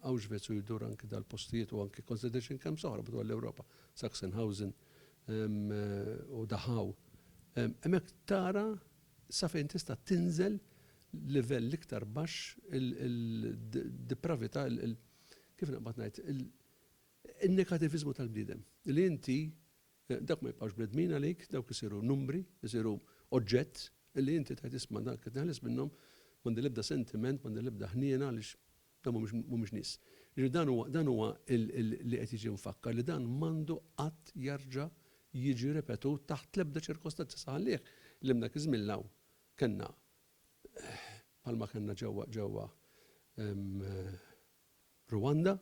Auschwitz u jdur anki dal-postijiet u anki consideration camps oħra madwar l-Ewropa, Sachsenhausen u Dachau. Hemmhekk tara sa fejn tista' tinżel livell l-iktar baxx il-depravità, kif naqbad ngħid, in-negativiżmu tal-bniedem. Li inti Dawk ma jibqgħux bnedmin għalik, dawk isiru numbri, isiru oġġett li inti tgħid isma' dak qed neħles minnhom, m'għandi l-ebda sentiment, m'għandi l-ebda ħniena għaliex dawn mhumiex mhumiex nies. Jiġifieri dan huwa dan huwa li qed jiġi mfakkar li dan m'għandu qatt jerġa' jiġi ripetut taħt l-ebda ċirkostanza saħanlieh li minn dak iż-żmien 'l hawn kellna bħalma kellna ġewwa ġewwa Rwanda,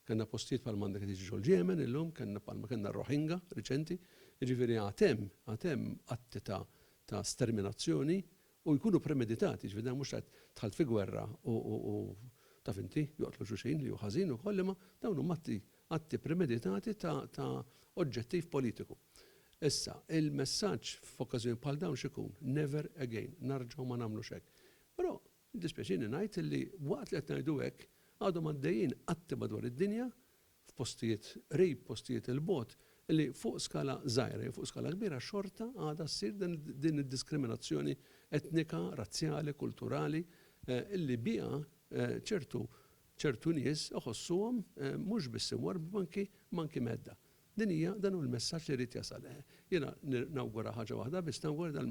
kellna postijiet bħal m'għandek qed jiġi ġol-Jemen illum, kellna bħal ma kellna r-Rohingya riċenti, jiġifieri għad hemm, għad hemm atti ta' ta' sterminazzjoni u jkunu premeditati, jiġifieri dan mhux qed dħalt fi gwerra u u taf inti, joqtlu xulxin li hu ħażin ukoll imma dawn huma atti atti premeditati ta' ta' oġġettiv politiku. Issa, il-messaġġ f'okkażjonijiet bħal dawn x'ikun? Never again, narġgħu ma nagħmlux hekk. Però Jiddispjaċini ngħid li waqt li qed ngħidu hekk, għadhom għaddejjin atti madwar id-dinja, f'postijiet qrib, postijiet 'il bogħod, li fuq skala żgħira jew fuq skala kbira xorta għadha ssir din id-diskriminazzjoni etnika, razzjali, kulturali li biha ċertu ċertu nies iħossuhom mhux biss imwarrba imma anki imma anki mhedda. Din hija dan hu l-messaġġ li jrid jasal. Jiena nawgura ħaġa waħda biss, nawgura li dan